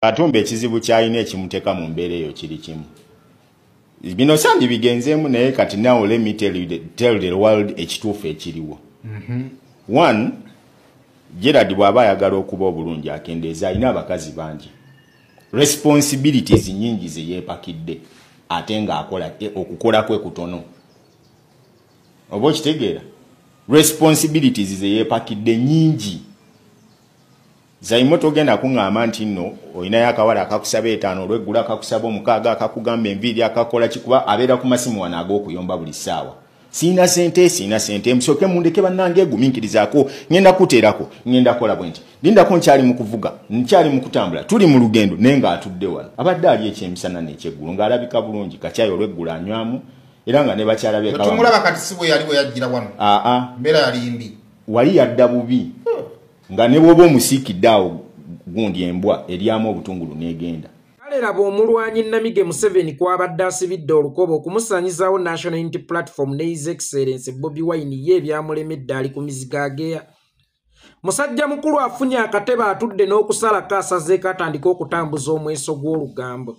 katumba ekizibu kyalina ekimuteka mu mbeera eyo kiri kimu bino sandi bigenzeemu naye kati now let me tell, you the, tell the world ekituufu ekiriwo mm -hmm. one gerard bw'aba ayagala okuba obulungi akendeeza alina abakazi bangi responsibilities nyingi zeyeepakidde ate ng'akola e, okukola kwe kutono oba okitegeera responsibilities zeyeepakidde nyingi Zaimo togenda kungamba nti nno olinayo akawala akakusaba etaano olweggula akakusaba omukaaga akakugamba enviiri akakola kikuba abeera ku masimu wano ag'okuyomba buli ssaawa siina sente siina sente musooke mundeke bannange eguminkirizaako ŋenda kuteerako ŋenda kola bwe nti lindako nkyali mu kuvuga nkyali mu kutambula tuli mu lugendo naye ng'atudde wano abadde ali ekyemisana n'ekyeggulo ng'alabika bulungi kakyayi olweggulo anywamu era nga ne bakyala betumulaba kati si bwe yali bwe yajjira wano aa mbeera yali mbi wali yadda bubi nga ne bwoba omusiikidde awo gundi embwa eryamu obutungulu n'egenda kale laba omulwanyi namige museveni kwabadde asibidde olukoba okumusanyizawo national unity platform ne his excellence bobi wine ye ebyamulemedde ali ku mizigo ageya musajja mukulu afunye akatebe atudde n'okusalako asazeeko atandika okutambuza omweso gw'olugambo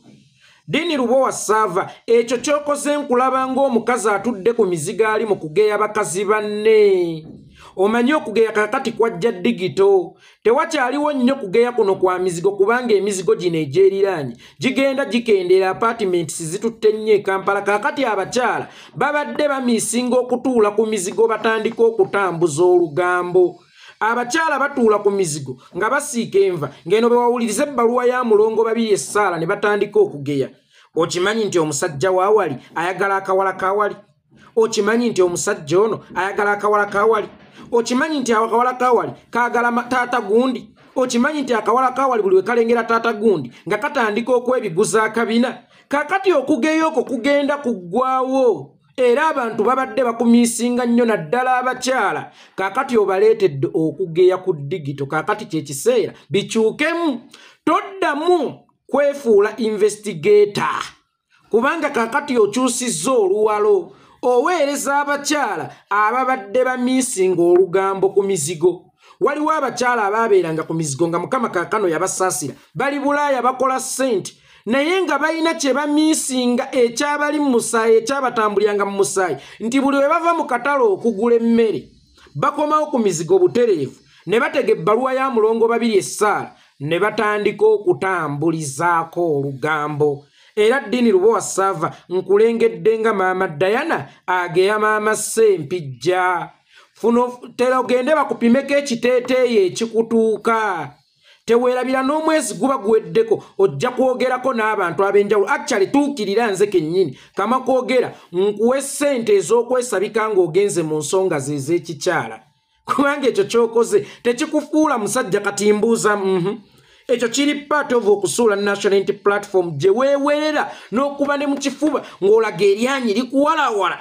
Dini Lubowa Sava, ekyo kyokoze nkulaba ng'omukazi atudde ku mizigo ali mu kugeya bakazi banne. Omanyi okugeya kakati kwajja digito. Tewakyaliwo nnyo kugeya kuno kwa mizigo kubanga emizigo gino egyeriraanye gigenda gikendeera apartments zitutte nnyo e Kampala. Kakati abakyala babadde bamiisinga okutuula ku mizigo batandika okutambuza olugambo. abakyala batuula ku mizigo nga basiika enva ng'eno bwe wawuliriza ebbaluwa ya mulongo babiri essaala ne batandika okugeya okimanyi nti omusajja waawali ayagala akawala kawali okimanyi nti omusajja ono ayagala akawala kawali okimanyi nti akawala kawali kaagala taata gundi okimanyi nti akawala kawali buli wekalengera taata gundi nga katandika okwebiguza akabina kakati okugeya okwo kugenda kuggwawo era abantu babadde bakumiisinga nnyo naddala abakyala kaakati obaleetedde okugeya ku digito kaakati kyekiseera bikyukemu toddamu kwefuula investigata kubanga kaakati okyusizza oluwalo oweereza abakyala ababadde bamiisinga olugambo ku mizigo waliwo abakyala abaabeeranga ku mizigo nga mukama kaakano yabasaasira bali bulaaya bakola ssente naye nga balina kye bamiisinga ekyabali mu musaayi ekyabatambulyanga mu musaayi nti buli bwe bava mu katale okugula emmere bakomawo ku mizigo butereevu ne batega ebbaluwa ya mulongo babiri essaala ne batandika okutambulizaako olugambo era ddiini luba wasaava nkulengedde nga maama dayana ageya maama sempijja funotera ogende bakupimeko ekiteeteeyi ekikutuuka teweerabira n'omwezi guba guweddeko ojja kwogerako n'abantu ab'enjawulo actually tuukirira nze kennyini kama kwogera nkuwe ssente ez'okwesabika ng'ogenze mu nsonga ze ez'ekikyala kubanga ekyo ky'okoze tekikufuula musajja kati mbuuza mm -hmm. ekyo kiri part of okusuula national int platform gye weewerera n'okuba ne mu kifuba ng'olaga eryanyi likuwalawala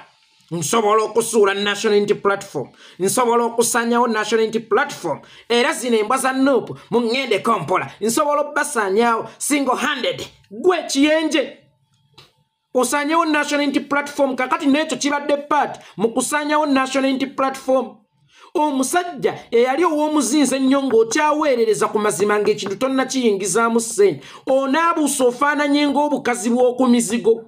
nsobola okusuula national unity platform nsobola okusanyawo national unity platform era zino embwa za nup mu ngende kompola nsobola okubasanyawo single handed gwe ekiyenje osanyawo national unity platform kakati nekyo kibadde part mu kusanyawo national unity platform omusajja eyali ow'omuzinzi ennyo ng'okyaweerereza ku mazima ng'ekintu tonna kiyingizaamu ssente onaabuusa ofaananye ng'obukazi bw'oku mizigo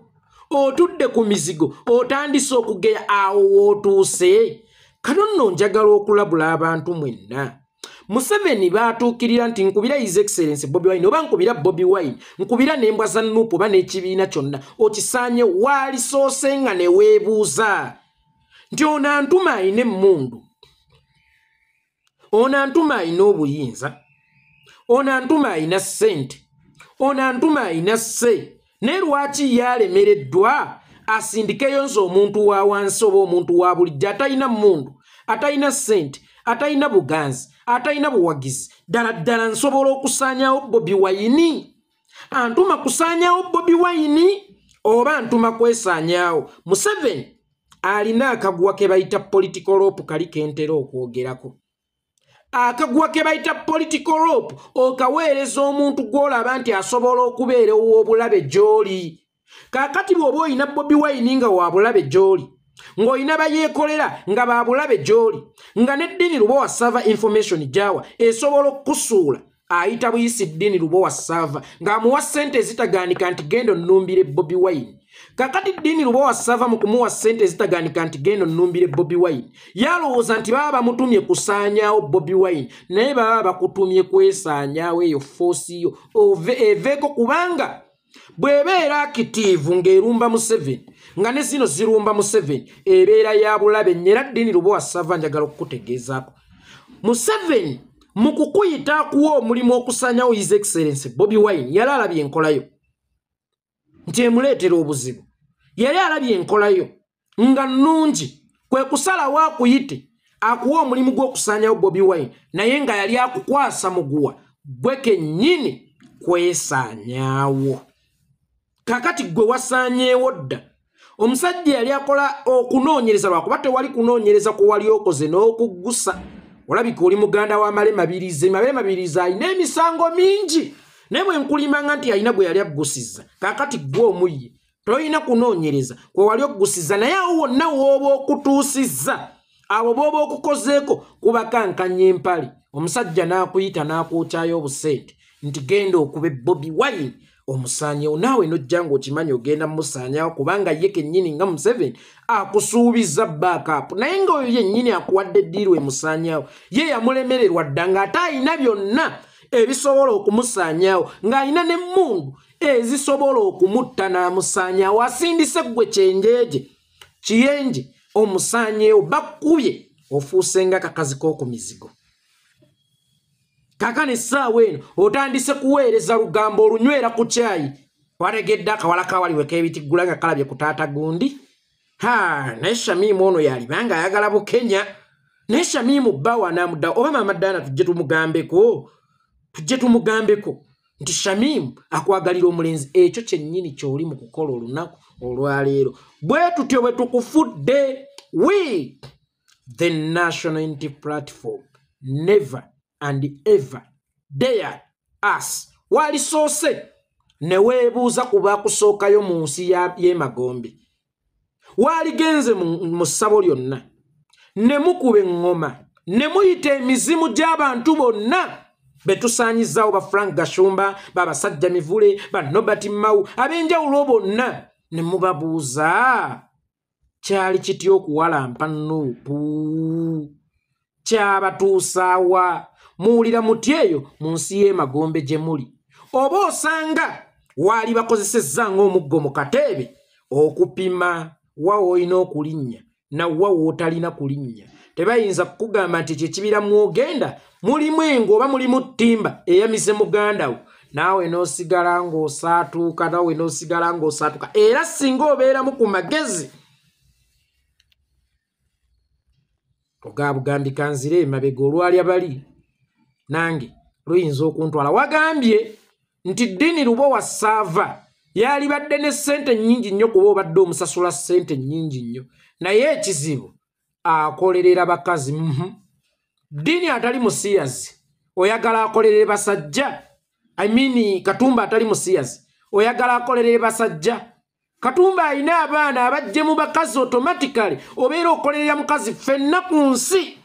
otudde ku mizigo otandise okugeya awo wootuuse kano nno njagala okulabula abantu mwenna museveni baatuukirira nti nkubira his excellence bobi wine oba nkubira bobi wine nkubira nembwa za nuupu oba n'ekibiina kyonna okisaanye waalisoose nga neweebuuza nti ono antuma alina emmundu ono antuma alina obuyinza ono antuma alina ssente ono antuma alina sse naye lwaki ye alemereddwa asindikeyo nze omuntu wa wansi oba omuntu wa bulijjo atalina mmundu atalina ssente atalina buganzi atalina buwagizi ddala ddala nsobola okusaanyawo bobi wayini antuma kusaanyawo bobi wayini oba ntuma kwesaanyawo museveni alina akaguwa ke bayita political rope kali kentera okwogerako akaguwa ke bayita political rope okaweereza omuntu gw'olaba nti asobola okubeera ow'obulabe gy'oli kaakati bw'oba olina bobi wayini nga waabulabe gy'oli ng'olina bayeekolera nga baabulabe gy'oli nga n'eddiini luba wasaava information gyawa esobola okukusuula ayita buyisi ddiini luba wasaava ng'amuwa ssente ezitagaanika nti genda onnumbire bobi wayini kakati ddiini luba wasaava mu kumuwa ssente ezitagaanika nti genda onnumbire bobi wayini yalowooza nti baba bamutumye kusaanyaawo bobi wayini naye baba bakutumye kwesaanyaawo eyo foosi yo eveeko kubanga bw'ebeera akitiivu ng'erumba museveni nga ne zino zirumba museveni ebeera ya bulabe nyera ddiini lubowa sava njagala okukutegeezaako museveni mu kukuyita akuwa omulimu okusanyawo his excellence bobi wine yali alabye enkolayo nti emuleetera obuzibu yali alabye enkolayo nga nnungi kwe kusalawo akuyite akuwa omulimu gw'okusaanyawo bobi wine naye nga yali akukwasa muguwa gwe kennyini kwesaanyaawo kakati gwe wasaanyeewo dda omusajja yali akola okunoonyereza lwakuba tewali kunoonyereza ku wali okoze n'okuggusa olabika oli muganda wa male mabirizi mabere mabirizi alina emisango mingi naye bwe nkulimbanga nti alina gwe yali aggusizza kakati gwe omuyye tolina kunoonyereza kwe wali okugusiza naye awo wonna wooba okutuusizza abo booba okukozeeko kubakankanya empale omusajja n'akuyita n'akwokyayo obusente nti genda okube bobi wine omusaanyewo naawe nojja ngaokimanyi ogenda mumusaanyawo kubanga ye kennyini nga museven akusuubiza baakapu naye nga oyo yennyini akuwadde ddiiru emusaanyawo ye yamulemererwa dda ng'ate alina byonna ebisobola okumusaanyawo ng'alina n'emmundu ezisobola okumutta n'amusaanya awasindise ggwe kyenjeje kiyenje omusaanyeewo bakkubye ofuuse nga kakazi k'oku mizigo kakano essaawa eno otandise kuweereza lugambo olunywera ku kyayi wategedde akawala kawaliweko ebitiggula nga kalabye ku taata gundi ha naye shamimu ono yaliba nga ayagala bukenya naye shamimu bbawa anamuddawo oba maama daana tujje tumugambeko tujje tumugambeko nti shamimu akwagalira omulenzi ekyo kyennyini kyoli mu kukola olunaku olwaleero bwe tutyo bwe tukufudde we the national inti platform never and ever dare us walisoose ne weebuuza ku bakusookayo mu nsi y'emagombe waaligenze mu ssabo lyonna ne mukuba eŋŋoma ne muyita emizimu gy'abantu bonna be tusaanyizaawo ba frank gashumba babasajja mivule ba nobert mmawu ab'enjawulo bonna ne mubabuuza kyali kitya okuwalampa nuupu kyabatuusaawa muwulira muti eyo mu nsi y'emagombe gye muli oba osanga waali bakozesezza ng'omuggo mu kateebe okupima wa woolina okulinnya nawa wootalina kulinnya tebayinza kukugamba nti ekyo ekibira mwogenda mulimu engo oba mulimu ttimba eyamize muganda wo naawe n'osigala ng'osaatuuka naawe n'osigala ng'osaatuuka era singa obeeramu ku magezi ogabugambi kanzire emabega olwalya bali nange luyinza okuntwala wagambye nti ddiini luba wasaava yalibadde ne ssente nnyingi nnyo kuba obadde omusasula ssente nnyingi nnyo naye ekizibu akolerera bakazi mhm. dini atali musiyazi oyagala akolerere basajja i mean katumba atali musiyazi oyagala akolerere basajja katumba alina abaana abajje mu bakazi automatically obeera okolerera mukazi fenna ku nsi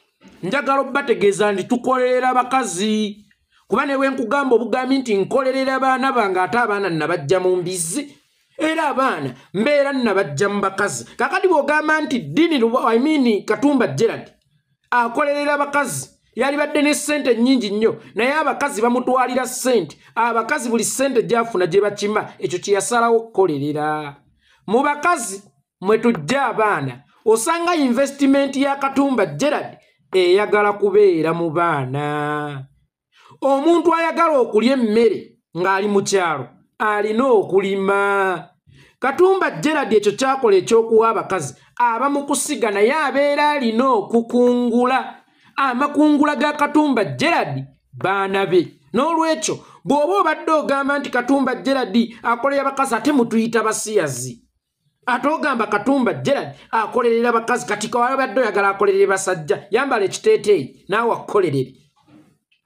njagala obategeeza nti tukolerera bakazi kuba newenkugamba obugambi nti nkolerera baana bange ate abaana nabajja mu mbizi era abaana mbeera nabajja mu bakazi kakati bwogamba nti dini I mean katumba gerald akolerera bakazi yalibadde ne ssente nnyingi nnyo naye abakazi bamutwalira ssente abakazi buli ssente gyafuna gye bakima ekyo kye yasalawo okukolerera mu bakazi mwe tujja abaana osanga investimenti ya katumba gerald eyagala kubeera mu baana omuntu ayagala okulya emmere ng'ali mu kyalo alina okulima katumba geradi ekyo kyakola ekyokuwa abakazi aba mu kusiga naye abeera alina okukungula amakungula ga katumba geradi baana be n'olwekyo bw'oba obadde ogamba nti katumba geradi akolera abakazi ate mutuyita basiyazi ate ogamba katumba gerald akolerera bakazi kati kawabadde oyagala akolerere basajja yambala ekiteeteeyi naawe akukolerere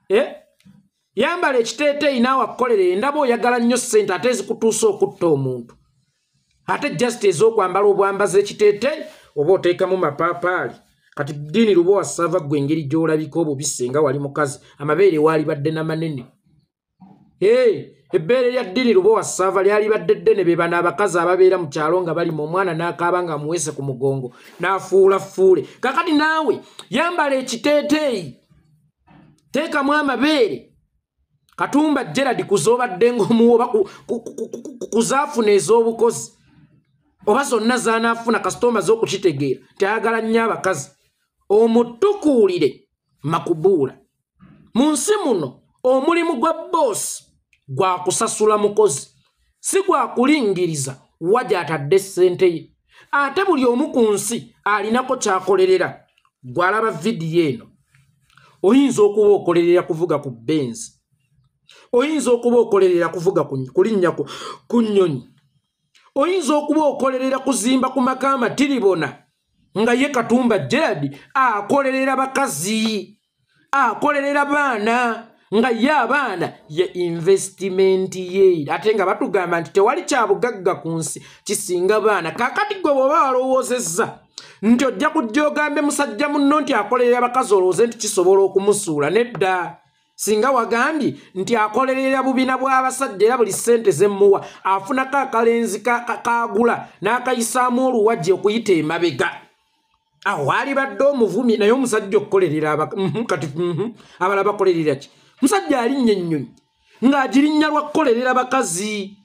eh? yambala ekiteeteeyi naawe akukolerere ndaba oyagala nnyo ssente ate ezikutuusa okutta omuntu ate just ez'okwambala obwambazi ekiteeteeyi oba oteekamu mapaapaali kati diini luba wasava gwe engeri gy'olabika obubi singa wali mukazi amabeere waalibadde na manene ebbeere lya ddini lubowa ssaava lyalibadde ddene be bano abakazi ababeera mu kyalo nga bali mu omwana n'akaaba nga amuweese ku mugongo n'afuula fuule kakati naawe yambala ekiteeteeyi teekamu amabeere katumba gerard kuzoobadde ng'omuwa oba kuzaafuna ez'obukozi oba zonna zanaafuna kasita omaze okukitegeera nti ayagala nnyo abakazi omutukuulire makubuula mu nsi muno omulimu gwa boosi gwa kusasula mukozi si gwa kulingiriza wa gy'atadde ssente ye ate buli omu ku nsi alinako ky'akolerera gw'alaba vidiyo eno oyinza okuba okolerera kuvuga ku benzi oyinza okuba okolerera kuvuga kulinnya ku nnyonyi oyinza okuba okolerera kuzimba ku maka amatiribona nga ye katumba gerard akolerera bakazi akolerera baana nga ye abaana ye investimenti ye ate nga batugamba nti tewali kyabugagga ku nsi kisinga baana kakati gwe bwoba walowoozezza nti ojja kujja ogambe musajja munno nti akolerera abakazi olowooze nti kisobola okumusuula nedda singa wagambye nti akolerera bubina bw'abasajja era buli ssente zemmuwa afunako akalenzi kagula n'akayisaamu oluwagi okuyita emabega awo alibadde omuvumi naye omusajja okukolerera mhm, kati mhm, abala bakolerera ki musajja alinnya ennyonyi ng'agirinnya lwa kukolerera bakazi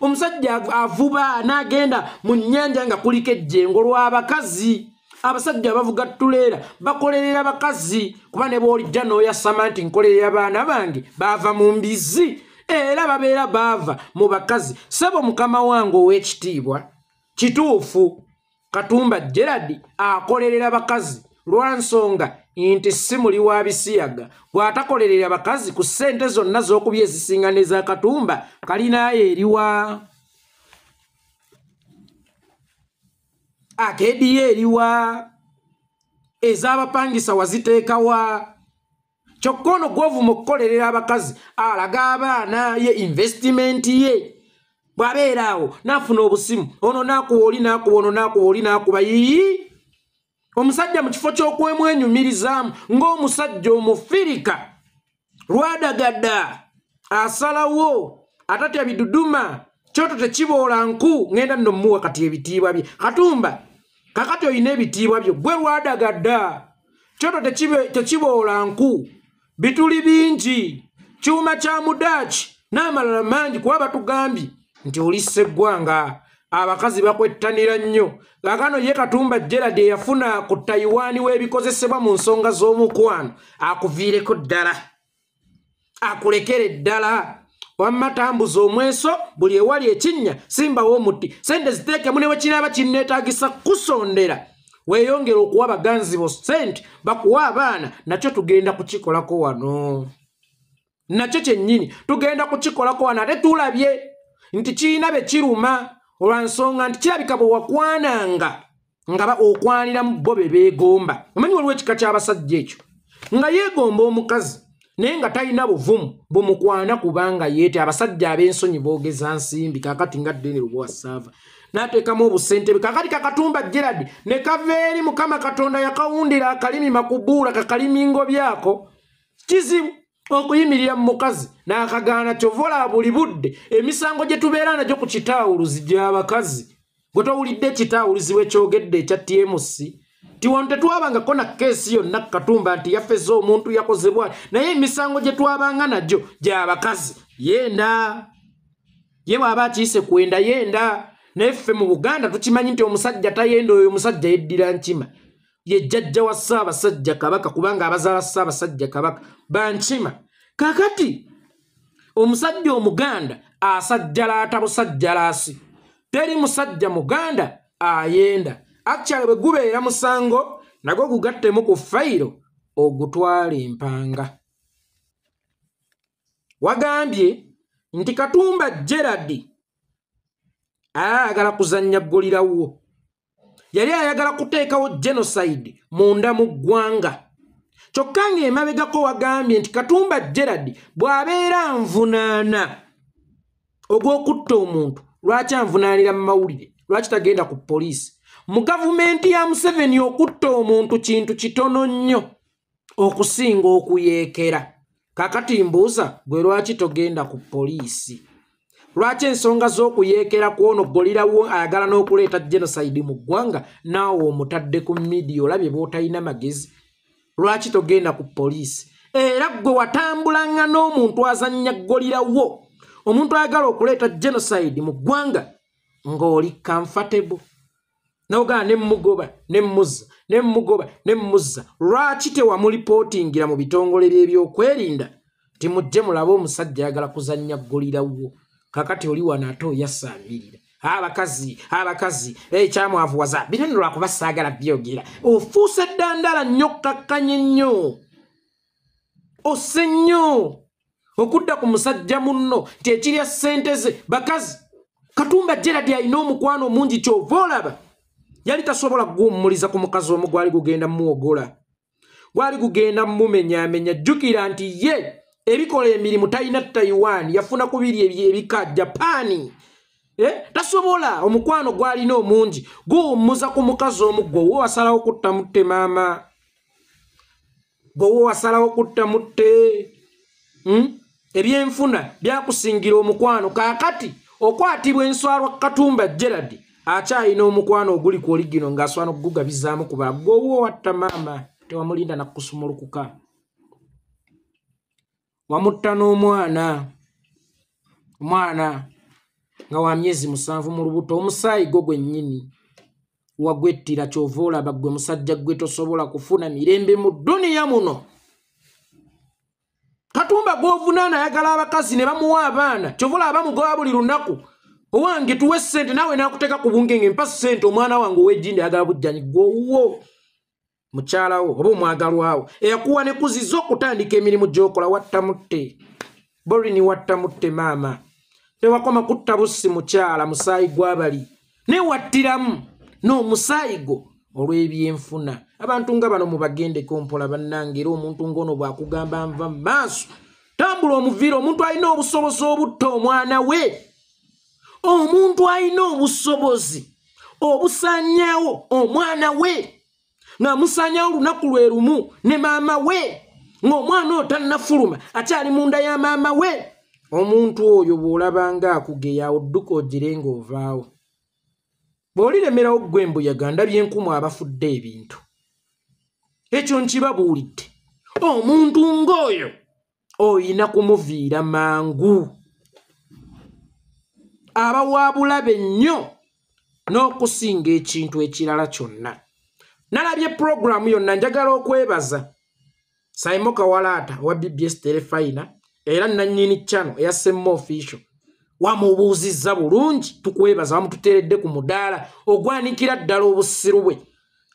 omusajja avuba n'agenda mu nnyanja nga kuliko ejjengo lw'abakazi abasajja abavuga tuleera bakolerera bakazi kuba ne bwolijja n'oyasama nti nkolerera baana bange baava mu mbizi era babeera baava mu bakazi sebo mukama wange ow'ekitiibwa kituufu katumba gerard akolerera bakazi lwansonga nti si muli wa bisiyaga bw'atakolerera bakazi ku ssente zonna z'okuby ezisinga n'eza katumba kalinayo eriwa akediyo eriwa ez'abapangisa waziteekawa kyokka ono gwovuma okukolerera abakazi alaga abaana ye investimenti ye bwabeera awo nafuna obusimu ono nakuwa oli nakuba ono nakuba oli nakuba yii omusajja mu kifo kyokwemwenyumirizaamu ng'omusajja omufirika lwadagadda asalawo atatya biduduma kyoto tekiboola nku ŋenda nno muwa kati ebitiibwa bye katumba kakati olina ebitiibwa byo gwe lwadagadda kyoto tekiboola nku bituli bingi kyuma kya mudaaki n'amalala mangi kuba batugambye nti oli sseggwanga abakazi bakwettanira nnyo kakano ye katumba gerald eyafuna ku tayiwaani w'ebikozesebwa mu nsonga z'omukwano akuviireko ddala akulekere ddala wamma tambuza omweso buli ewali ekinnya simbawo omuti sente ziteekemu ne wekinaaba kinneetaagisa kusondera weeyongere okuwa abaganzi bo sente bakuwa abaana nakyo tugenda kukikolako wano nakyo kyennyini tugenda kukikolako wano ate tulabye nti kirina be kiruma olwa nsonga nti kirabika bwe wakwananga nga okwaniramu bo be beegomba omanyi waliwo ekika ky'abasajja ekyo nga yeegomba omukazi naye nga talina buvumu bumukwana kubanga yeete abasajja ab'ensonyi boogeza nsimbi kakati nga deni lubwasaava n'ateekamu obusentebe kakati kakatumba gerard ne kava eri mukama katonda yakawundira akalimi makubuula kakalimingo byako kizibu okuyimirira mu mukazi n'akagaana kyova olaba buli budde emisango gye tubeera nagyo ku kitaawuluzi gy'abakazi gwe towulidde ekitaawuluzi wekyogedde ekya tmc ti wano tetwabangako na keesi yonna katumba nti yafeza omuntu yakozebwa naye emisango gye twabanga nagyo gy'abakazi yenda ye bw'aba akiyise kwenda yenda naye ffe mu buganda tukimanyi nti omusajja tayenda oyo omusajja yeddira nkima ye jjajja wa ssaabasajja kabaka kubanga abazaala ssaabasajja kabaka bankima kakati omusajja omuganda asajjalaata busajjalaasi teri musajja muganda ayenda akyale bwe gubeera musango nagwo gugattemu ku fayiro ogutwala empanga wagambye nti katumba gerard ayagala kuzannya ggulirawo yali ayagala kuteekawo genocide munda mu ggwanga kyokka ng'emabegako wagambye nti katumba gerard bw'abeera nvunaana ogw'okutta omuntu lwaki anvunaanira mu mawulire lwaki tagenda ku poliisi mu gavumenti ya museveni okutta omuntu kintu kitono nnyo okusinga okuyeekera kakati mbuuza gwe lwaki togenda ku poliisi lwaki ensonga z'okuyeekera kwono golirawo ayagala n'okuleeta genocide mu ggwanga naawe omutadde ku midiya olabye bwotalina magezi lwaki togenda ku poliisi era gwe watambulanga n'omuntu azannya golirawo omuntu ayagala okuleeta genocide mu ggwanga ng'oli comfortable nogaa ne mugoba ne muzza ne mugoba ne muzza lwaki tewamulipootingira mu bitongole by'ebyokwerinda ti mujje mulabe omusajja ayagala kuzannya ggulirawo kakati oli wano ate oyasaabirira abakazi abakazi ekyamwavuwaza eh, bino nolwakuba saagala byogera ofuuse ddandala nnyo kkakkanye nnyo ose nnyo okudda ku musajja munno nti ekirya ssente ze bakazi katumba geradi alina omukwano omungi kyova olaba yali tasobola kuguwummuliza ku mukazi omu gwali gugenda muwogola gwali gugenda mumenyamenya jjukira nti ye ebikola emirimu talina taiwan yafuna ku biri ebika japaani eh, tasobola omukwano gwalina omungi guwummuza ku mukazi omu gwe wo wasalawo kutta mutte maama bwoba wasalawo kutta mutte hmm? ebyenfuna byakusingira omukwano kakati okwatibwa enswalwa katumba gerard akyalina omukwano oguli ku oligino ngaaswana okugugabizaamu kuba gwowa owatta maama tewamulinda nakusumulukuka wamutta n'omwana omwana nga wa myezi musanvu mu lubuto omusaayi gwo gwennyini wagwettira kyova olaba gwe musajja gwe tosobola kufuna mirembe mu duniya muno katumba gwovunaana ayagala abakazi ne bamuwa abaana kyova olaba bamugoba buli lunaku owange tuwe ssente naawe nakuteeka ku bungenge mpa ssente omwana wange ow'ejjindi ayagala bujjanyi gwowuwo mukyalawo oba omwagalwawo eyakuwa ne kuziza okutandika emirimu gyokola wattamutte borini wattamutte maama tewakoma kutta bussi mukyala musaayi gwabali naye wattiramu n'omusaayi gwo olw'ebyenfuna abantu nga bano mubagendeko mpola bannange era omuntu ng'ono bwakugamba nva mu maaso tambula omuviira omuntu alina obusobozi obutta omwana we omuntu alina obusobozi obusanyawo omwana we nga musanyawo olunaku lwe lumu ne maama we ng'omwana oyo tannafuluma akyali mu nda ya maama we omuntu oyo bw'olabanga akugeya odduka ogire ng'ovaawo bw'oliremerawo ggwe embuyaga ndabye enkumu abafudde ebintu ekyo nkibabuulidde omuntu ng'oyo oyina kumuviira mangu abawaabulabe nnyo n'okusinga ekintu ekirala kyonna nalabye pulogulaamu yonna njagala okwebaza saimo kawalaata owa bbs terefayina era nannyini cano eya semma ofisio wamubuuzizza bulungi tukwebaza wamututeredde ku mudaala ogwanikira ddala obusiru bwe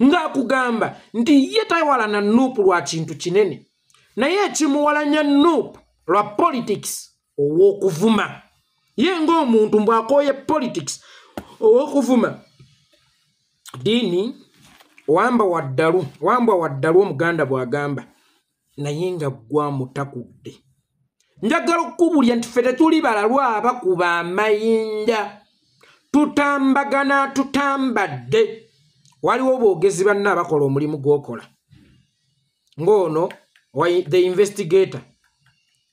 ng'akugamba nti ye tawalana nuupu lwa kintu kinene naye ekimuwalanya nup lwa politics owokuvuma ye ngaomuntu mbwakoye politics owokuvuma diini wamba waddalu wambwa waddalu omuganda bwagamba naye nga gwamutakudde njagala okukubulya nti ffe tetuli balalu abakuba amayinja tutambagana tutambadde waliwo boogezi banna abakola omulimu gwokola ng'ono the investigator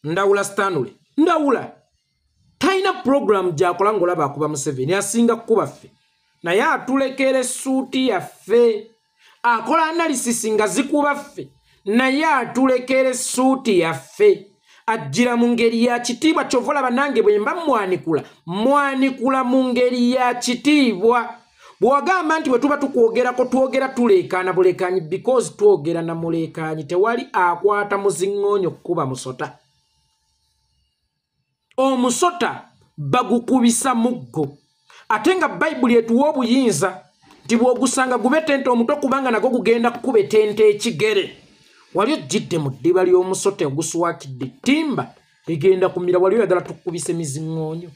ndawula stanley ndawula talina puroguramu gyakola ngaolaba akuba museveni asinga kukuba ffe naye atulekera essuuti yaffe akola analysis nga zikuba ffe naye atulekera essuuti yaffe ajjira mu ngeri ya kitiibwa kyova olaba nange bwe mba mwanikula mwanikula mu ngeri ya kitiibwa bwewagamba nti bwe tuba tukwogerako twogera tuleekaana buleekaanyi because twogera na muleekaanyi tewali akwata muziŋŋoonyo kukuba musota omusota bagukubisa muggo ate nga bayibuli etuwa obuyinza nti bw'ogusanga gube tente omuto kubanga nago gugenda kukuba etente ekigere wali ojjidde mu ddiba ly'omusota oguswakidde ttimba egenda kumira wali oyagala tukubise miziŋŋoonyo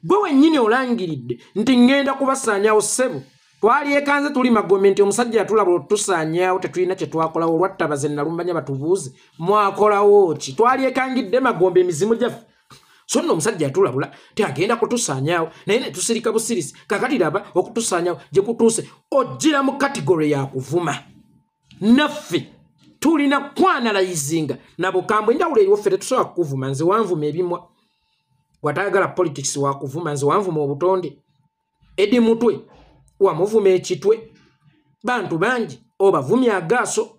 gwe wennyini olangiridde nti ŋŋenda kubasaanyawo ssebo twalyekanze tuli magombe nti omusajja yatulabula otutusaanyawo tetulina kye twakolawo olwattabaze nalumanya batubuuze mwakolawo ki twalyekangidde magombe emizimu gyaffe so nno omusajja yatulabula ti agenda kutusaanyawo naye netusirika busirisi kakati laba okutusaanyawo gye kutuuse ojjira mu kategore ya kuvuma naffe tulina kwanalayizinga nabukambwe enjawulo eriwo ffe tetusobola kukuvuma nze wanvuma ebimwa watayagala politics wakuvuma nze wanvuma obutonde edi mutwe wamuvuma ekitwe bantu bangi obavumya agaaso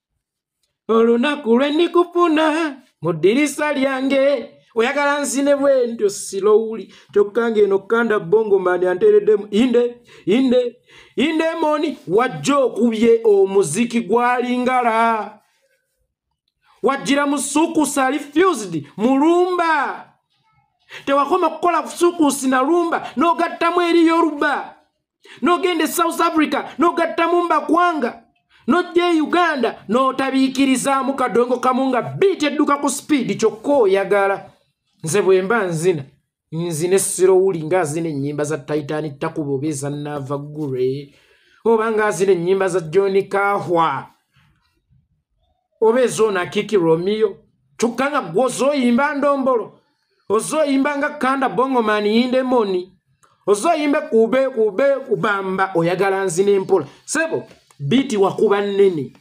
olunaku lwe ndikufuna mu ddirisa lyange oyagala nzine bwentyo silowuli kyokka ngaeno kanda bongo mani anteereddemu inde inde inde moni wajja okubye omuziki gwalingala wajjira mu sukusi ali fused mulumba tewakoma kukola sukusi nalumba n'ogattamu eriyo oluba n'ogenda e south africa n'ogatta mu mbakwanga n'ojja e uganda n'otabiikirizaamu kadongo kamu nga biiti edduka ku sipiidi kyokka oyagala nze bwe mba nzina nzina essiro wuli ngaazina ennyimba za titani takuba oba eza naava gure oba ngaazina ennyimba za john kahwa oba ezoona kiki romiyo kyokka nga gwe ozoyimba ndombolo ozoyimba nga kanda bongomani yindemoni ozoyimba kube kube kubamba oyagala nzina empola sebo biiti wakuba nnene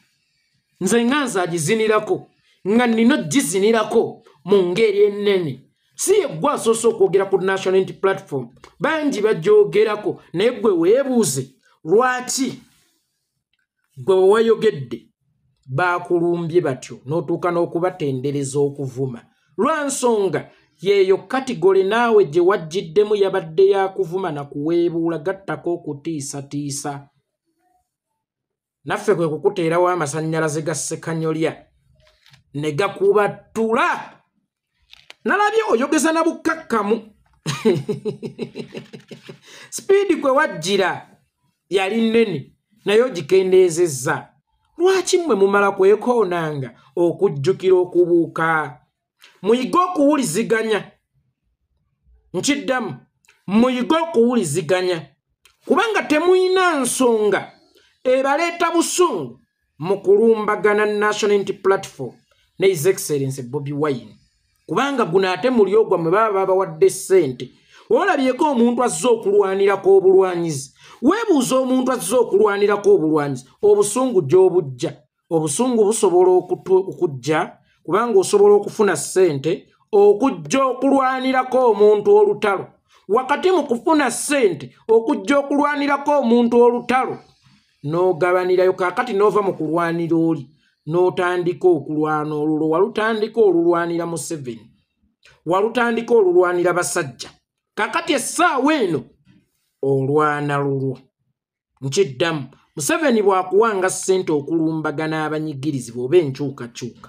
nze nga nze agizinirako nga nina ogizinirako mu ngeri ennene si yeggwe asoose okwogera ku national int platform bangi bagyogerako naye gwe weebuuze lwaki gwe wewayogedde baakulumbye batyo n'otuuka n'okubatendereza okuvuma lwa nsonga yeeyo katigole naawe gye wajjiddemu yabadde yakuvuma na kuweebuula gattako okutiisatiisa naffe kwe kukuteerawo amasannyalaze ga ssekanyolya ne gakubattula nalabye oyogeza na bukkakkamu sipiidi kwe wajjira yali nnene naye ogikendeezezza lwaki mmwe mumala kwekoonanga okujjukira okubuuka muyige okuwuliziganya nkiddamu muyige okuwuliziganya kubanga temuyina nsonga ebaleeta busungu mu kulumbagana national unity platform ne his excellence bobi wine kubanga guno ate muli ogwa mwe baba babawadde ssente olabyeko omuntu azze okulwanirako obulwanyizi weebuuza omuntu azze okulwanirako obulwanyizi obusungu gy'obujja obusungu busobola okujja kubanga osobola okufuna ssente okujja okulwanirako omuntu olutalo wakati mu kufuna ssente okujja okulwanirako omuntu olutalo n'ogabanirayo kaakati n'ova mu kulwanira oli n'otandika okulwana olulo walutandika olulwanira museveni walutandika olulwanira basajja kaakati essaawa eno olwana lulwo nkiddamu museveni bwakuwanga ssente okulumbagana abanyigirizibwa oba enkyukakyuka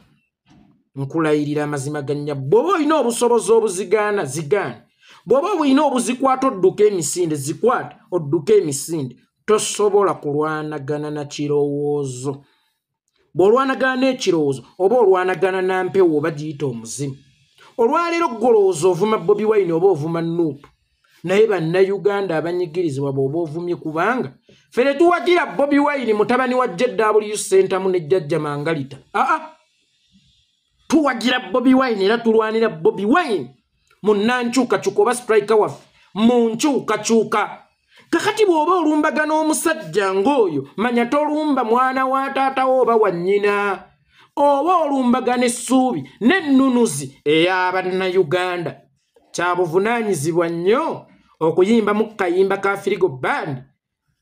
nkulayirira amazima gannya bw'oba olina obusobozi obuzigaana zigaana bw'oba olina obuzikwata odduka emisinde zikwata odduka emisinde tosobola kulwanagana na kirowoozo bw'olwanagana n'ekirowoozo oba olwanagana na mpewo oba giyita omuzimu olwaleero golowooza ovuma bobi wine oba ovuma nuupu naye bannayuganda abanyigirizibwa bwoba ovumye kubanga fe ne tuwagira bobi wayini mutabani wa jw sentamu ne jjajja mangalita aa tuwagira bobi wayini era tulwanira bobi wayini mu nankyukakyuka oba sitrika waffe mu nkyukakyuka kakati bw'oba olumbaga n'omusajja ng'oyo manya tolumba mwana wa taatawo oba wa nnyina oba olumbaga n'essuubi n'ennunuzi eya bannayuganda kya buvunaanyizibwa nnyo okuyimbamu ku kayimba ka firigo band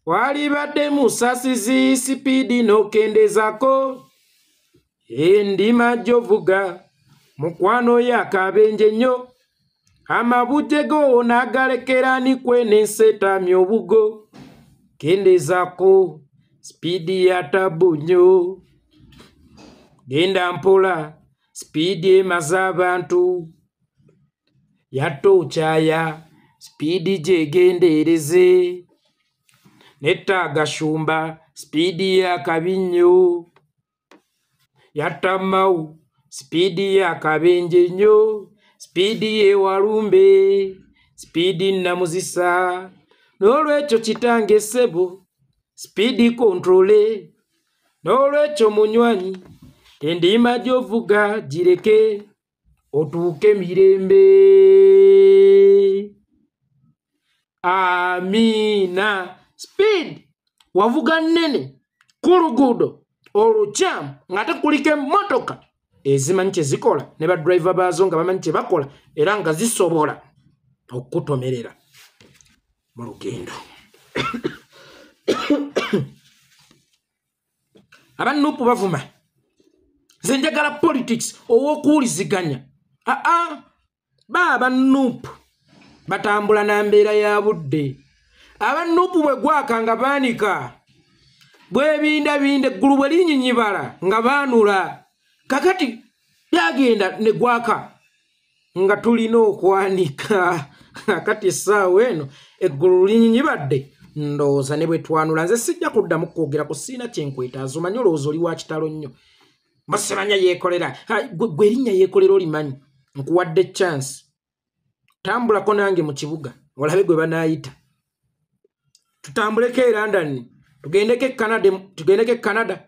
walibadde musasizi sipiidi n'okendezaako endima gyovuga mukwano oyo akabenje nnyo amabujje go n'agalekera ni kwene nseetaami obugo kendezaako sipiidi ya tabu nnyo genda mpola sipiidi emaze abantu yatta okyaya sipiidi gyegendeereze netta agashumba sipiidi yakabi nnyo yatta mawu sipiidi yakabenje nnyo sipiidi yewalumbe sipiidi nnamuzisa n'olwekyo kitange ssebo sipiidi kontrole n'olwekyo munywanyi endiima gy'ovuga gireke otuuke mirembe amiina speed wavuga nnene ku luguudo olukyamu ng'ate kuliko emmotoka ezimanyi kye zikola ne badriva baazo nga bamanyi kye bakola era nga zisobola okukutomerera mu lugendo abanupu bavuma nze njagala politics owokuwuliziganya aa ba abanupu batambula na mbeera ya budde abanupu bwe gwaka nga baanika bwebindabinda eggulu bwe linyinyibala nga baanula kakati byagenda ne gwaka nga tulina okwanika kati essaawa eno eggulu linyibadde ndowooza ne bwe twanula nze sijja kuddamu kwogera ku siina kyenkwetaaza omanyi olowooza oli wa kitalo nnyo musimanya yeekolera gwe erinnya yeekolera olimanyi nkuwadde chance tambulako nange mu kibuga olabe gwe banaayita tutambuleko e london tugendeko e canada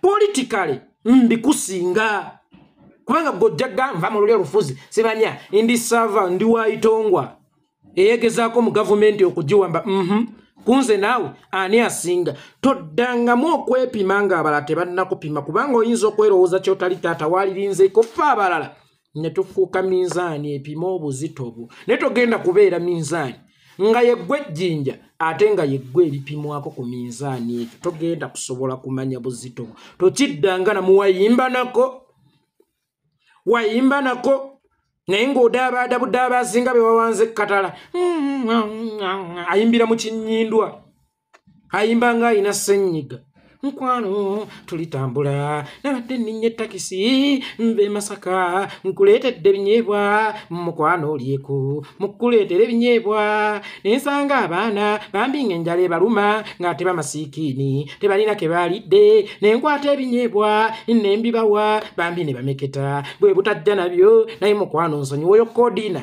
politikale ndikusinga kubanga gojjaga nva mu luli olufuzi sibanya ndi sava ndi waitongwa eyegezaako mu gavumenti okugiwamba mhm. kunze naawe ani asinga toddangamu okwepima ng'abalala tebannakupima kubanga oyinza okwerowooza kyotali taata waalirinzeeko ffe abalala ne tufuuka minzaani epima obuzito bwo naye togenda kubeera minzaani nga yeggwa ejjinja ate nga yeggwa ebipimwako ku minzaani ekyo togenda kusobola kumanya buzito bwo tokiddanga namu wayimbanako wayimbanako naye ng'odaabadabudaaba azinga be wawanze ekkatala ayimbira mu kinyindwa ayimba nga alina ssenyiga mukwano tulitambula nabadde nninnya ettakisi nva emasaka nkuleetedde ebinyeebwa mukwano olyeku mukuleetera ebinyeebwa nensanga abaana bambi nga enjala ebaluma ng'ate bamasiikiini tebalina ke baalidde nenkwata ebinyeebwa nembibawa bambi ne bameketa bwe butajja nabyo naye mukwano nsonyiwoyo kodiina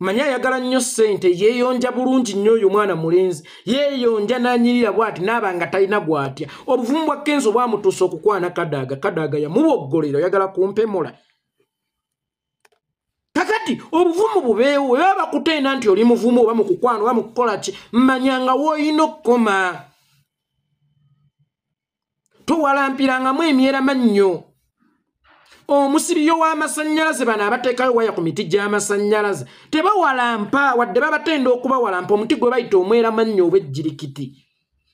manya ayagala nnyo ssente yeeyonja bulungi nnyo oyo omwana mulenzi yeeyonja n'anyirira bwati naaba nga talina gwatya obuvumu bwa kenzo bwamutuusa okukwana kadaaga kadaaga yamuboggolera oyagala kumpemola kakati obuvumu bubeewo weba bakutenda nti oli muvumu oba mukukwana oba mukukola ki manya nga woolina okukoma towalampirangamu emyera mannyo omusiriyo w'amasannyalaze bano abateekayo waya ku miti gy'amasannyalaze tebawalampa wadde babatenda okubawalampa omuti gwe bayita omwera mannyo obwejjirikiti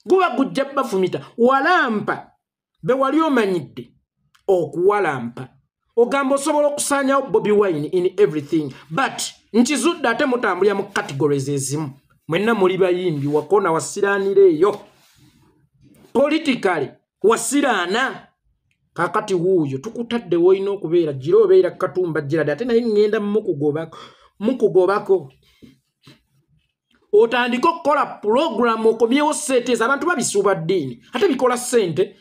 guba gujja bafumita walampa be wali omanyidde okuwalampa ogamba osobola okusaanyawo bobi wine in everything but nkizudde ate mutambulira mu categories ezimu mwenna muli bayimbi wakona wasiraanira eyo politicaly wasiraana kakati wuuyo tukutadde wolina okubeera gira obeera katumba girade ate naye ŋŋenda mukugobako mukugobako otandike okukola pulogulamu okomyewo sente eza abantu babisuuba ddiini ate bikola sente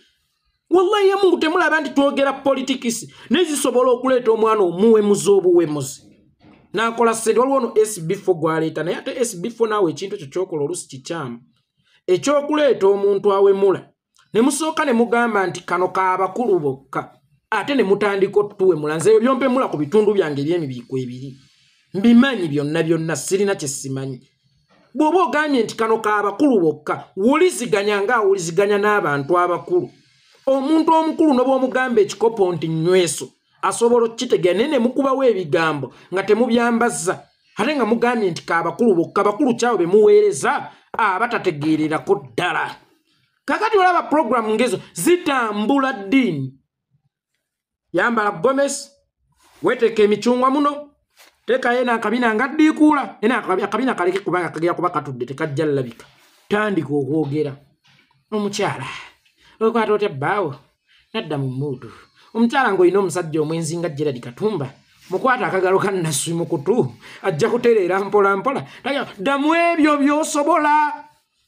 wallahi yamungu temulaba nti twogera politikisi naye zisobola okuleeta omwana omuwemuzi obuwemuzi nakola sente waliwo no sbfo gwaleeta naye ate sbfo naawe ekintu ekyo kyokola olusi kikyamu ekyokuleeta omuntu awemula ne musooka ne mugamba nti kano ka bakulu bokka ate ne mutandika otuwemula nze ebyo byompemula ku bitundu byange ebyemibiiko ebiri mbimanyi byonna byonna sirina kyesimanyi bw'oba ogambye nti kano ka bakulu bokka wuliziganya nga awuliziganya n'abantu abakulu omuntu omukulu noba omugamba ekikopo nti nyweso asobola okukitegeera naye nemukubawo ebigambo nga temubyambazza ate nga mugambye nti ka bakulu bokka bakulu kyawo be muweereza abatategeererako ddala kakati olaba puroguramu ngezo zitambula ddiini yambala gomesi weteeka emicungwa muno teekayo ena akabina nga ddiikuula ena akabina kaleke kubanga kagera kuba katudde tekajja llabika tandika okwogera omukyala okwata otya bbaawo nadda mu muudu omukyala ng'olina omusajja omwenzi nga geradi katumba mukwata akagalo ka naswi mu kutu ajja kutereera mpolampola ddamu ebyo by'osobola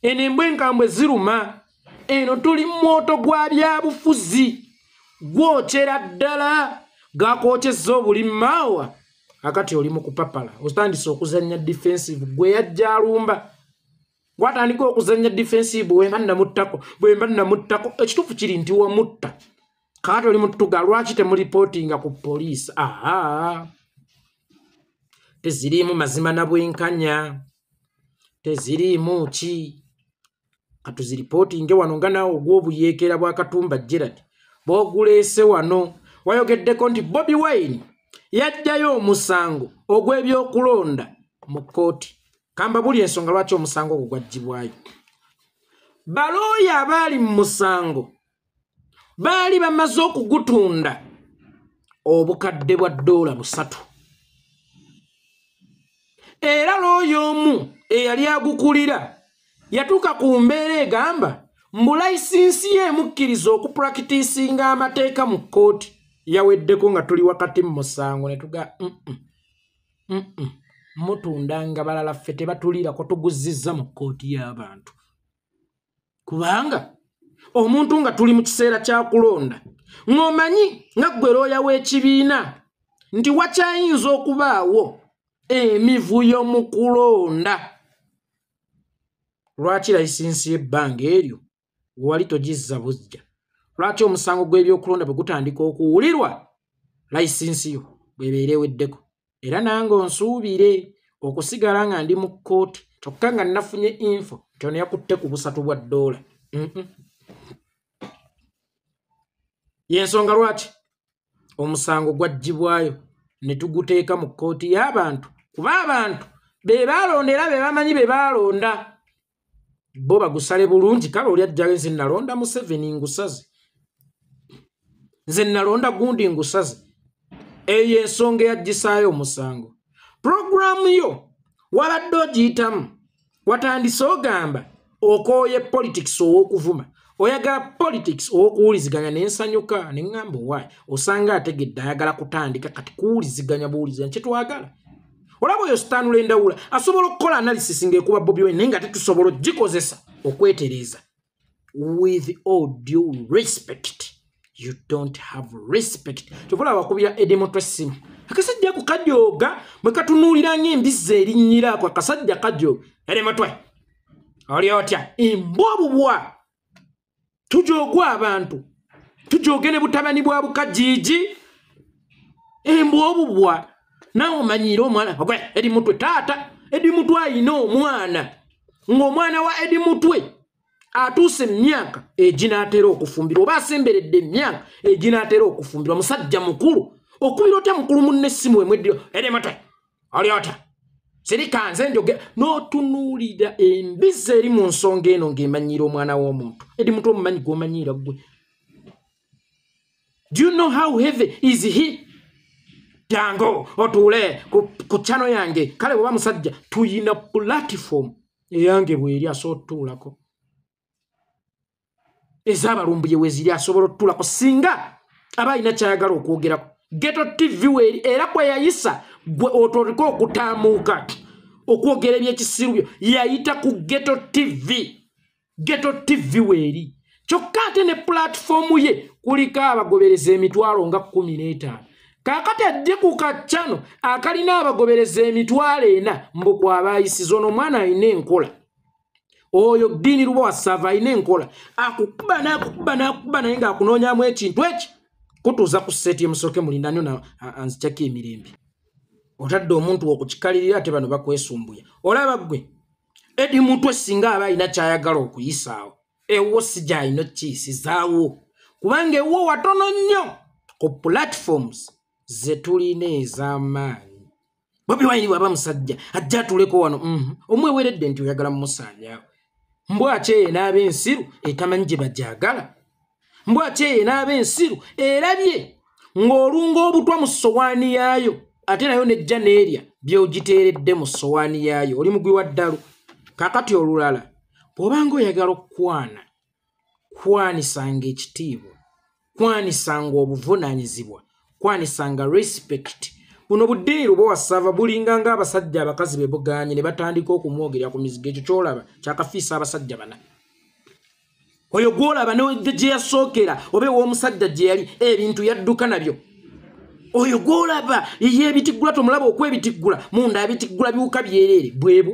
eno embwa enkambwe ziruma eno tuli mwoto gwa byabufuzi gwokyera ddala gakwokyezza obuli maawa akati oli mukupapala otandise okuzanya defensive gwe yajja alumba gwatandika okuzanya defensive bwemba namuttako bwemba namuttako ekituufu kiri nti wamutta kaati oli mutuga lwaki temulipootinga ku poliisi aa teziriimu mazima na bwenkanya teziriimu ki katuziripootinge wano nga naawe ogw'obuyeekeera bwa katumba gerard booguleese wano wayogeddeko nti bobi wine yajjayo omusango ogw'ebyokulonda mu kkooti kamba buli ensonga lwaki omusango ogwo gwaggyibwayo balooya abaali mu musango baali bamaze okugutunda obukadde bwa doola busatu era looyo omu eyali agukulira yatuuka ku mbeera egamba mbu layisinsi ye emukkiriza okupulakitisinga amateeka mu kkooti yaweddeko nga tuli wakati mu musango ne tuga mutundanga balala ffe tebatuliirako tuguzizza mu kkooti y'abantu kubanga omuntu nga tuli mu kiseera kya kulonda ng'omanyi nga ggwe looya w'ekibiina nti wakyayinza okubaawo emivuyo mu kulonda lwaki layisinsi y'ebbanga eryo wewali togizza bujja lwaki omusango gw'ebyokulonda bwe gutandika okuwulirwa layisinsi yo bwebeera eweddeko era nange onsuubire okusigala nga ndi mu kkooti kyokka nga nafunye info nti ono yakutte ku busatu bwa ddoola yensonga lwaki omusango gwaggyibwayo ne tuguteeka mu kkooti y'abantu kuba abantu be baalonda era be bamanyi be baalonda bo bagusale bulungi kale oli ajjayo nze nalonda museveni ngusaze nze nalonda gundi ngusaze eyo ensonga eyagisaayo omusango puroguramu yo wabadde ogiyitamu watandise ogamba okooye politics ow'okuvuma oyagala politics owokuwuliziganya nensanyuka neŋamba owayi osanga ategedde ayagala kutandika kati kuwuliziganya buwuliziganya kyetwagala olaba oyo sitanula endawula asobola okukola analysis ngaekuba bobi wine naye nga tetusobola ogikozesa okwetereeza with all due respect you don't have respect kyokola abakubira edemotwesimu akasajja ku kajooga bwe katunuulira ngaembizzi erinnyiraako akasajja kajooga edemotwe oli otya embwa obubwa tujoogwa abantu tujooge ne butabani bwa bukajiiji embwa obubwa nawe omanyiire omwana ogwe edi mutwe taata edi mutwe ayina omwana ng'omwana wa edi mutwe atuuse emyaka eginaatera okufumbirwa oba asemberedde emyaka eginaatera okufumbirwa musajja mukulu okubira otya mukulu munne essimu emweddiro edi mutwe olyota sirika nze njoge n'otunuulira embizi eri mu nsonga eno ng'emanyiira omwana w'omuntu edi muntu omumanyi gw'omanyiira ggwe do you know how heavy is he jango otuule ku cano yange kale bweba musajja tuyina pulatifomu eyange bweri asobola otutuulako ezabalumbuye weziri asobola otutulako singa aba alina kyayagala okwogerako geto tv weeri era kweyayisa gwe otolika okutamuuka okwogera ebyekisiru byo yayita ku geto tv geto tv weeri kyokka ate ne pulatifoomu ye kuliko abagobereza emitwalo nga kumi n'etaano kakati ajje ku kaccano akalina abagobereza emitwalo ena mbu kwabayisiza ono omwana alina enkola oyo ddiini luba wasaava alina enkola akukuba nakukuba nakukuba naye ngaakunoonyamu ekintu eki kutuuza ku seeti emusooke mulindanyo anzikyako emirembe otadde omuntu okukikalirira ate bano bakwesumbuya olaba gwe edi mutwe singa aba alina kyayagala okuyisaawo ewo si gyalina okukiyisizaawo kubanga ewo watono nnyo ku platforms zetulina ez'amaanyi bobi wine bwaba musajja ajja atuleko wano mhm. omweweredde nti oyagala mumusaanyaawo mbwaki eye n'aba ensiru etamanyi gye bajagala mbwaki eye n'aba ensiru erabye ng'olunga obutwa mu sowaani yaayo ate nayo nejja neerya byogiteeredde mu sowaani yaayo oli mugwi wa ddalu kakati olulala bw'obanga oyagala okukwana kwanisanga ekitiibwa kwanisanga obuvunaanyizibwa kwanisanga respect buno budiiru bwewasava bulinga nga abasajja abakazi bebuganye ne batandika okumwogerera ku mizigo ekyo kyolaba kyakafiisa abasajja bana oyo gwolaba gye yasookera oba ew'omusajja gye yali ebintu yadduka nabyo oyo gwolaba yeyebitiggula tomulaba okwebitiggula munda abitiggula biwuka byereere bwebwo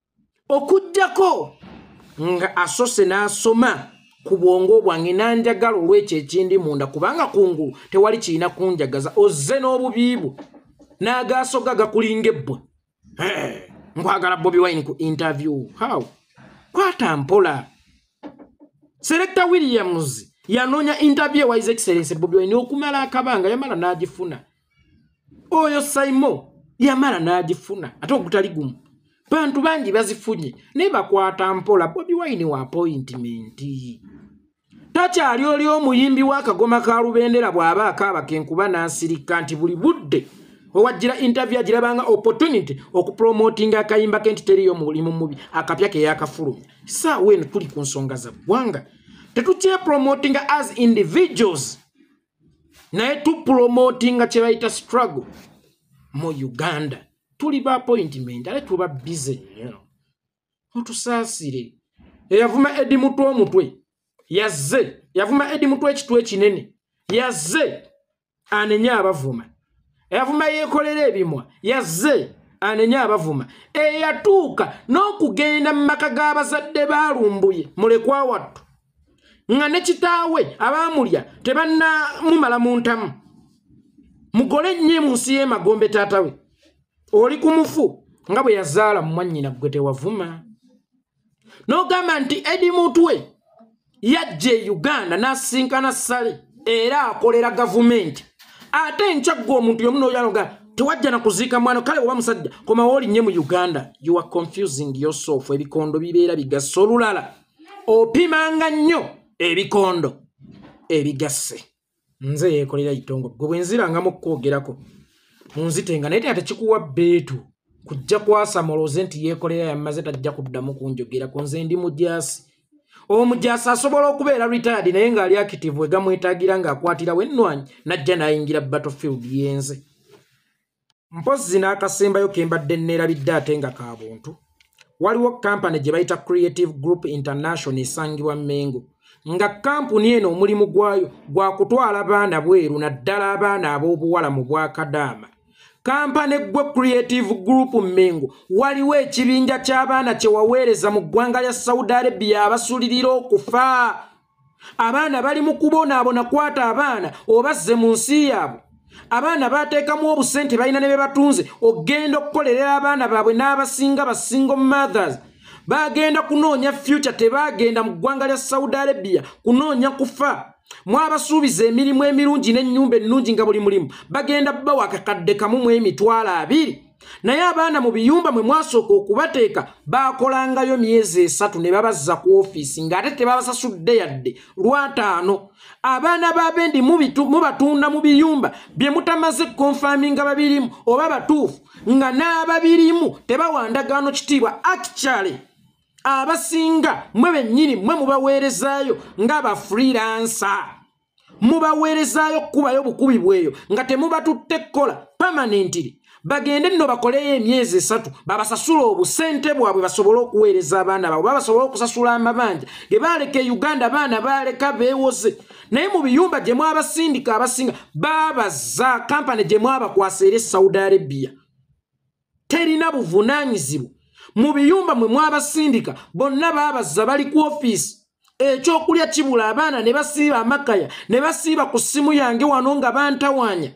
okujjako nga asose n'asoma ku bwongo bwange n'anjagala olw'ekyo ekindi munda kubanga kungulu tewali kirina kunjagaza ozze n'obubiibwo n'agaasoga gakulinga ebbwa nkwagala bobi wine ku interview how kwata mpola selecta williams yanoonya interview ewa his excellence bobi wine okumala akabanga yamala n'agifuna oyo saimo yamala n'agifuna ate ogutali gumu bantu bangi bazifunye naye bakwata mpola bobi wine wa apointimenti takyali oli omuyimbi w'akagoma ka lubendera bw'aba akaaba kenkuba n'asirikka nti buli budde owajjira interview agirabanga opportunity okupromotinga akayimba ke nti teriyo mulimu mubi akapya ke yakafulumya saawa eno tuli ku nsonga za ggwanga tetukyepromotinga as individuals naye tupromotinga kyebayita struggle mu uganda tuli ba appointment ale tuba bize nnyo mutusaasire eyavuma edi mutwe omutwe yazze yavuma edi mutwe ekitw ekinene yazze anenye abavuma eyavuma yeekolera ebimwa yazze anenye abavuma eyatuuka n'okugenda mu maka g'abazadde baalumbuye mulekwa wattu nga ne kitaawe abaamulya tebannamumala mu ntamu mugole nnyo mu nsi y'emagombe taata we oli ku mufu nga bwe yazaala mu mwannyina ggwe tewavuma n'ogamba nti edi mutwe yajja e uganda n'asisinkana sale era akolera gavumenti ate nkyaggwa omuntu yomu noyanoga tewajja na kuziika mwana kale oba musajja komawo olinnye mu uganda you are confusing yourself ebikondo bibeera bigasa olulala opimanga nnyo ebikondo ebigasse nze yeekolera itongo gwe bwe nzirangamu okukwogerako munzitenga naye tena tekikuwa beetu kujja kwasamoloze nti yeekolera yamaze tajja kuddamu kunjogerako nze ndi mujaasi omujaasi asobola okubeera retired naye ng'ali akitivu egamwetagira ng'akwatirawo ennwanyi najja n'ayingira battlefield yenze mpozzi n'akasembayo ke mbadde nneerabidde ate nga ka buntu waliwo kampani gye bayita creative group international esangibwa mengo nga kampuni eno omulimu gwayo gwa kutwala baana bweru naddala abaana ab'obuwala mu bwakadaama kampani gwe creative group mengo waliwo ekibinja ky'abaana kye waweereza mu ggwanga lya saudi arabia abasulirira okufa abaana bali mu kubonaabona kwata abaana obazze mu nsi yaabwe abaana bateekamu obusente balina ne be batunze ogenda okukolerera abaana baabwe n'abasinga basingo mothers bagenda kunoonya future tebagenda mu ggwanga lya saudi arabia kunoonya kufa mwabasuubiza emirimu emirungi n'ennyumba ennungi nga buli mulimu bagenda bawa kakadde kamu mu emitwalo abiri naye abaana mu biyumba mwe mwasooka okubateeka baakolangayo myezi esatu ne babazza ku ofiisi ng'ate tebabasasudde yadde lwataano abaana b'abendi mubatunda mu biyumba bye mutamaze konfaminga babirimu oba batuufu nga n'ababirimu tebawandagaano kitiibwa akicale abasinga mwe bennyini mwe mubaweerezaayo nga bafriransa mubaweerezaayo okukubayo obukubi bweyo nga temubatutte kukola pamanentiri bagende nno bakoleyo emyezi esatu babasasula obusente bwabwe basobole okuweereza abaana baabwe babasobole okusasula amabanja ge baaleka e uganda abaana baaleka beewoze naye mu biyumba gye mwabasindika abasinga babaza kampani gye mwabakwasa era e saudi arabia terina buvunaanyizibwa mu biyumba mwe mwabasindika bonna baabazza bali ku ofiisi ekyokulya kibula abaana ne basiiba amakaya ne basiiba ku ssimu yange wano nga bantawaanya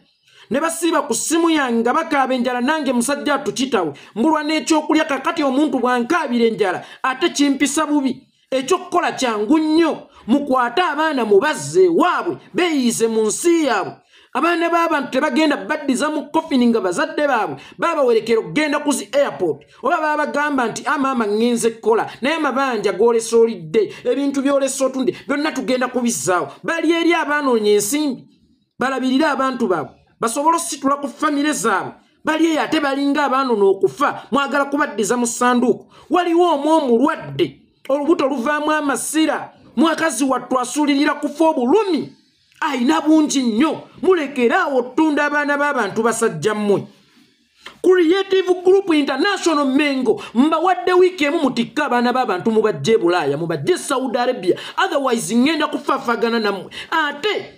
ne basiiba ku ssimu yange nga bakaaba enjala nange musajja atukitawe mbulwa n'ekyokulya kakati omuntu bwankaabira enjala ate kimpisa bubi ekyokukola kyangu nnyo mukwate abaana mubazze waabwe beeyiise mu nsi yaabwe abaana b'abantu tebagenda baddiza mu kofini nga bazadde baabwe babawerekera okugenda ku zi airport oba babagamba nti amaama ah, ŋŋenze kukola naye amabanja goolesa olidde ebintu byolesa otunde byonna tugenda kubizzaawo bali eri abanoonye ensimbi balabirire abantu baabwe basobole ositula ku famire zaabwe bali eyo ate balinga abaano n'okufa mwagala kubaddiza mu ssanduuku waliwo omu omulwadde olubuto luvaamu amasira mwakazi wattu asuulirira kufa obulumi ayina bungi nnyo mulekeraawo ottunda abaana b'abantu basajja mmwe creative group international mengo mbawadde wiiki emu mutikka abaana b'abantu mubajja e bulaaya mubajja e saudi arabia otherwise ngenda kufafagana nammwe ate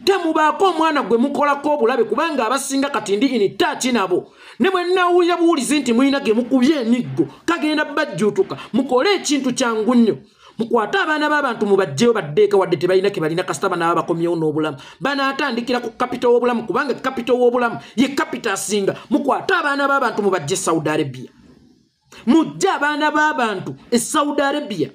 temubaako omwana gwe mukolako obulabe kubanga abasinga kati ndi ini taaki nabo ne bwe nawulira buwulizi nti mulina ge mukubye emiggo kagenda bajjuutuka mukole ekintu kyangu nnyo mukwate abaana b'abantu mubajjeyo baddeeka wadde tebalina ke balina kasita banaaba bakomyewo n'obulamu banaatandikira ku kapita w'obulamu kubanga kapita w'obulamu ye kapita asinga mukwate abaana b'abantu mubajje e saudi arabia mujje abaana b'abantu e saudi arabia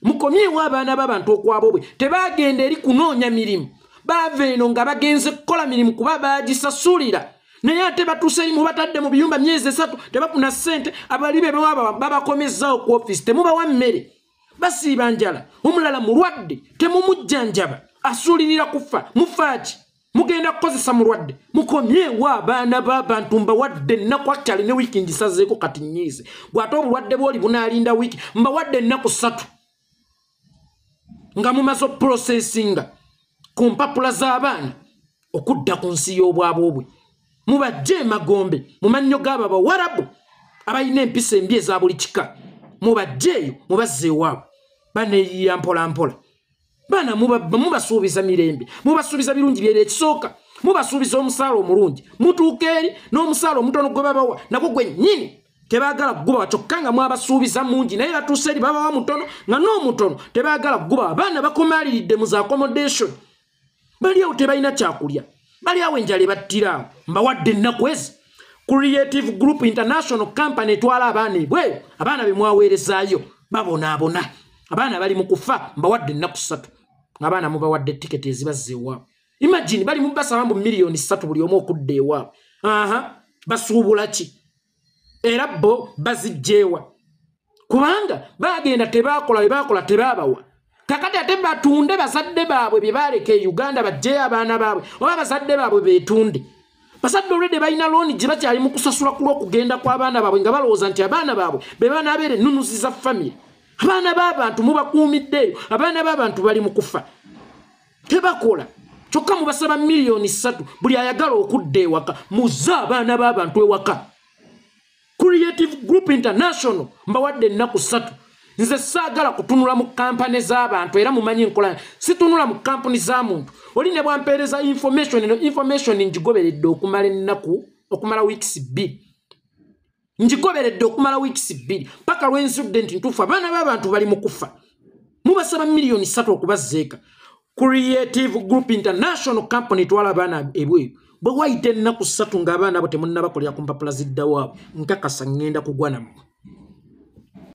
mukomyewo abaana b'abantu okwabo bwe tebaagenda eri kunoonya mirimu baava eno nga bagenze kukola mirimu kuba baagisasulira naye ate batuuseyi mubatadde mu biyumba myezi esatu tebafuna ssente abali be bewaba babakomezaawo ku ofisi temubawa mmere basiiba njala omulala mulwadde temumujjanjaba asuulirira kufa mufaaki mugenda kukozesa mulwadde mukomyewo abaana b'abantu mbawadde ennaku akyali ne wiiki ngisazeeko kati nyiize gwate obulwadde bwoli bunaalinda wiiki mbawadde ennaku ssatu nga mumaze oprocesinga ku mpapula z'abaana okudda ku nsi y'obwabo obwe mubajje emagombe mu mannyo g'abo abawarabu abalina empisa embi eza buli kika mubajjeeyo mubazze ewaabo baneeyiya mpolampola baana mubasuubiza mirembe mubasuubiza birungi byere ekisooka mubasuubiza omusaala omulungi mutuuka eri n'omusaala omutono gwe babawa nagwo gwennyini tebagala kugubawa kyokka nga mwabasuubiza mungi naye batuuse eri babawa mutono nga n'omutono tebagala kugubawa abaana bakomaaliridde mu za accommodation bali awo tebalina kyakulya bali awo enjala ebattiraawo mbawadde ennaku ezi creative group international company etwala abaana ebweyo abaana be mwaweerezaayo babonaabona abaana bali mu kufa mbawadde ennaku ssatu ngaabaana mubawadde tiketi ezibazza ewaabwe imagine bali mubasaba mbu miliyoni ssatu buli omu okudda ewaabwe aha basuubula ki era bo bazijjeewa kubanga bagenda tebakola bebakola tebabawa kakati ate batunde bazadde baabwe bye baaleka e uganda bajjeyo abaana baabwe oba bazadde baabwe betunde bazadde olwedde balina looni gye bakyali mu kusasula ku lw'okugenda kw'abaana baabwe nga balowooza nti abaana baabwe be banaabeera ennunuzi za famiry abaana b'abantu mubakuumiddeeyo abaana b'abantu bali mu kufa tebakola kyokka mubasaba miliyoni ssatu buli ayagala okudda ewaka muze abaana b'abantu ewaka creative group international mbawadde ennaku ssatu nze saagala kutunula mu kampani z'abantu era mumanyi nkola situnula mu kampuni za muntu oli ne bwampeereza information eno information ngigoberedde okumala ennaku okumala weeks bbiri ngigoberedde okumala wiikisi bbiri paka lwenzudde nti ntuufu abaana b'abantu bali mu kufa mubasaba miliyoni satu okubazzeeka creative group international company twala abaana ebweru bwe wayita ennaku ssatu ng'abaana abo temunnabakolera ku mpapula ziddawaabo nkakasa ŋŋenda kugwa nammwe